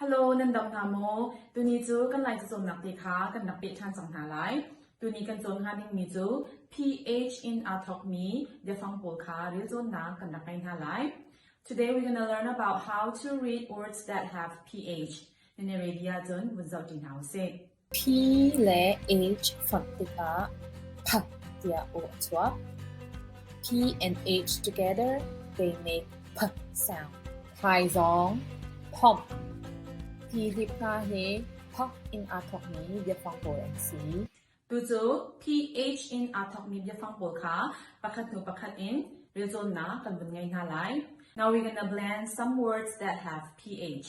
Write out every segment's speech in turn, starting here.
Hello, nan dam hna maw? Tuni cu kan lai cacawnnak te kha kan rak peh ṭhan cang hna lai. Tuni kan cawn hnga dingmi cu pH in aa thawkmi biafang pawl kha rel cawnnak kan rak ngei hna lai. Today we're going to learn about how to read words that have pH. Na nei ready ahcun vun zoh ṭi hna u sih. P le H fonh tikah "phat" tiah aw a chuak. P and H together they make "phat" sound. Thaizawng "phomh" ti hlip hna hi "phok" in aa thawkmi biafang pawl an si. Tucu PH in aa thawkmi biafang pawl kha pakhat hnu pakhat in relcawnnak kan vun ngei hna lai. Now we're gonna blend some words that have PH.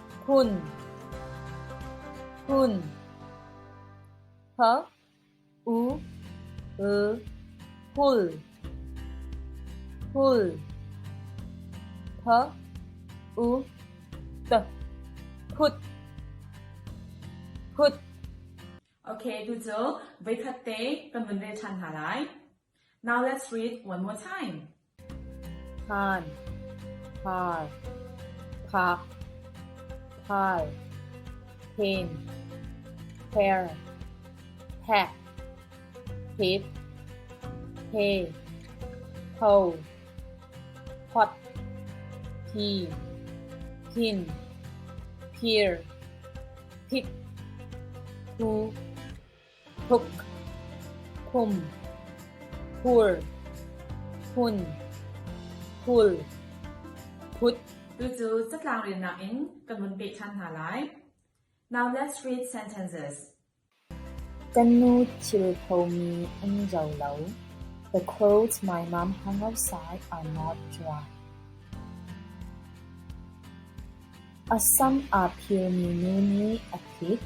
hun hun th u l hul hul th u t khut khut Ok, tu cu voi khat te kan vun rel than hna lai. Now let's read one more time. phan phar phak phal phin pher phek phip phe pho phot phi phin phir phip phu thuk, khum, khur, phun, phul, phut. Tucu catlang riannak in kan vun pehṭhan hna lai. Now let's read sentences. Kan nu thil khomi um zo lo. The clothes my mom hung outside are not dry. A sam aa phirmi nu nih a thit.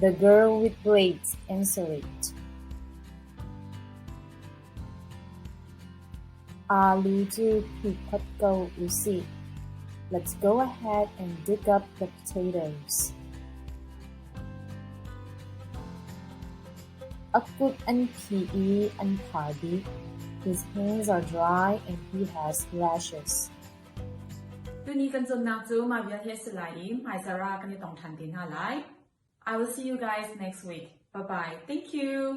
The girl with braids answer it. Aa lu cu phikhat ko usih. Let's go ahead and dig up the potatoes. A kut an phi i an phar dih. His hands are dry and he has rashes. Tuni kan zonnak cu mah vial hi a si lai i hmaizar ah kan i tong ṭhan te hna lai. I will see you guys next week. Bye-bye. Thank you.